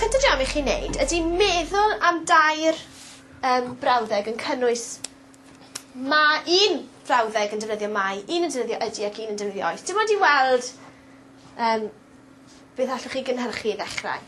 Cynta jam i chi neud ydi meddwl am dair yym brawddeg yn cynnwys ma- un frawddeg yn defnyddio mae un yn defnyddio ydi ac un yn defnyddio oes. Dim ond i weld yym beth allwch chi gynhyrchu i ddechrau.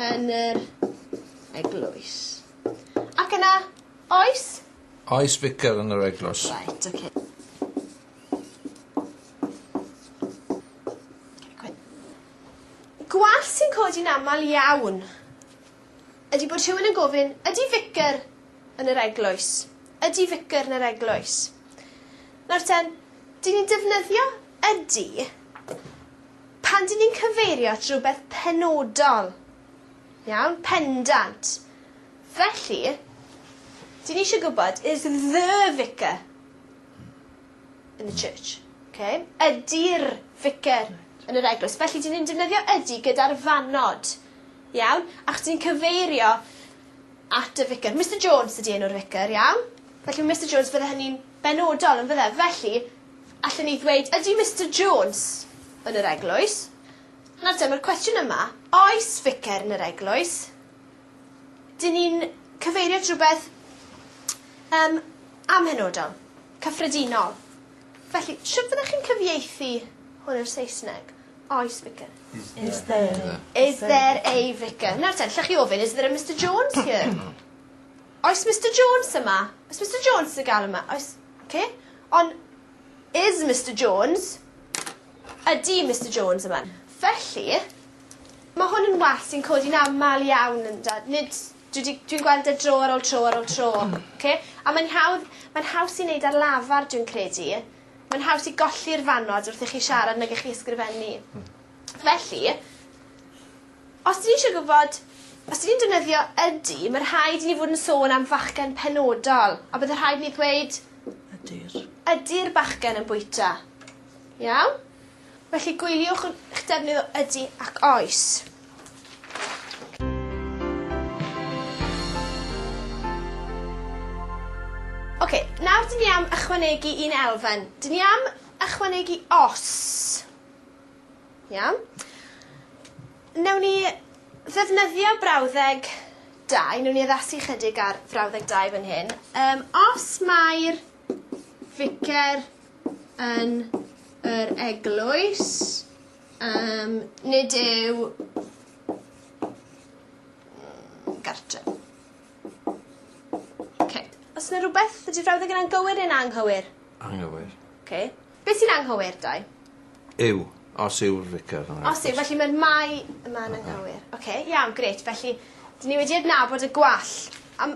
yn yr eglwys. Ac yna, oes? Oes ficer yn yr eglwys. Right, okay. Gwall sy'n codi'n aml iawn ydy bod rhywun yn gofyn, ydy ficer yn yr eglwys? Ydy ficer yn yr eglwys? Nawr ten, dyn ni'n defnyddio ydy Pan dyn ni'n cyfeirio at rywbeth penodol, iawn, pendant. Felly, dyn ni eisiau gwybod, is the vicar in the church? Ok? Ydi'r ficer yn yr eglwys? Felly, dyn ni'n defnyddio ydi gyda'r fannod. Iawn? Ac dyn ni'n cyfeirio at y ficer. Mister Jones ydi enw'r ficer, iawn? Felly, Mister Jones, bydde hynny'n benodol, yn fydde? Felly, Allen ni ddweud, ydy Mister Jones yn yr eglwys? Nawr te, mae'r cwestiwn yma, oes ficer yn yr eglwys? Dyn ni'n cyfeirio at rhywbeth um, amhenodol, cyffredinol. Felly, sut fyddech chi'n cyfieithu hwn i'r Saesneg? Oes ficer? Is there, is there, is there a vicar? Nawr te, llech chi ofyn, is there a Mister Jones here? Oes Mister Jones yma? Oes Mister Jones yn gael yma? Oes... Okay. On is Mister Jones? Ydi Mister Jones yma? Felly, ma' hwn yn wall sy'n codi'n amal iawn ynda'? Nid... Dwi 'di... Dwi'n gweld e dro ar ol tro ar ol tro. Oce? A mae'n hawdd... Mae'n haws i neud ar lafar dwi'n credu. Mae'n haws i golli'r fannod wrth i chi siarad nag i chi ysgrifennu. Hmm. Felly, Os dyn ni isio gwybod os dyn ni'n defnyddio ydy ma' rhaid i ni fod yn sôn am fachgen penodol a bydde rhaid ni ddweud Ydy'r. Ydy'r bachgen yn bwyta. Iawn? Felly gwyliwch y- 'ych defnydd o ydy ac oes. Oce, nawr dyn ni am ychwanegu un elfen. Dyn ni am ychwanegu os. Iawn. Newn ni ddefnyddio brawddeg dau newn ni addasu chydig ar frawddeg dau fan hyn. Yym os mae'r ficer yn yr eglwys yym nid yw gartre. Oce. Os 'na rwbeth ydi'r frawddeg yna'n gywir neu'n anghywir? Anghywir. Oce. Be' sy'n anghywir, Dai? Yw. Os yw'r vicar yn... Os yw felly mae'r mae yma'n anghywir. Oce. Oce iawn grêt felly 'dyn ni wedi adnabod y gwall a m-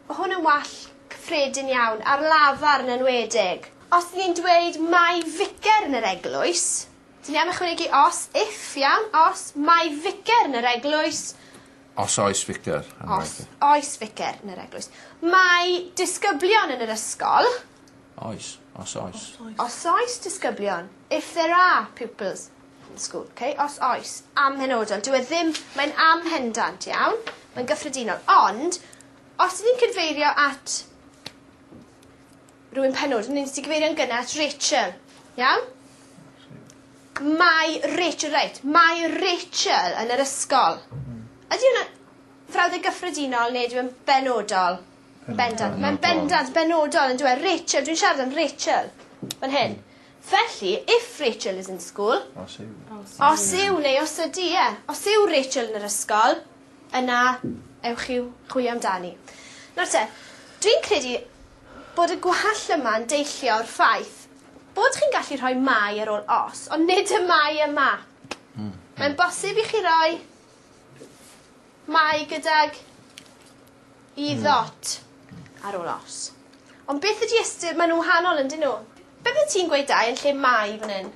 ma' hwn yn wall cyffredin iawn ar lafar yn enwedig. Os 'dyn ni'n dweud mae ficer yn yr eglwys 'dyn ni am ychwanegu os, if, iawn? Os mae ficer yn yr eglwys. Os oes ficer yn yr eglwys. Os oes ficer yn yr eglwys. Mae disgyblion yn yr ysgol. Oes. Os oes. Os oes disgyblion, if there are pupils in the school. Ok? Os oes. Amhenodol. Dyw e ddim... Mae'n amhendant, iawn? Mae'n gyffredinol. Ond, os ni'n cyfeirio at rhywun penodol, ni'n ti cyfeirio'n gynnar at Rachel. Iawn? Mae Rachel, reit, mae Rachel yn yr ysgol. Ydy hwnna frawddeg gyffredinol neu ydyw e'n benodol? Bendant. Mae'n bendant, benodol, on'd yw e? Rachel, dwi'n siarad am Rachel. Fan hyn. Felly, if Rachel is in school... Os yw. Os yw neu os ydy, ie. Os yw Rachel yn yr ysgol, yna ewch i'w chwilio amdani. Nawr te, dwi'n credu bod y gwall yma'n deillio o'r ffaith bod chi'n gallu rhoi mae ar ôl os, ond nid y mae yma. Hmm. Mae'n bosib i chi roi Mae gydag i ddot ar ôl os. Ond beth ydi ystyr... Maen nhw'n wahanol yndyn nhw? Be' fyddet ti'n gweud dau yn lle mae fan 'yn?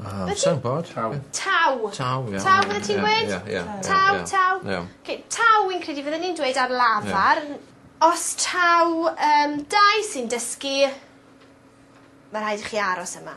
Yym sai'n gwbod. Taw. Taw. Taw ie. Taw fyddet ti'n gweud? Ie ie ie. Taw taw. Ie. 'K taw wi'n credu fydden ni'n dweud ar lafar. Ie. Os taw yym dau sy'n dysgu ma' rhaid i chi aros yma.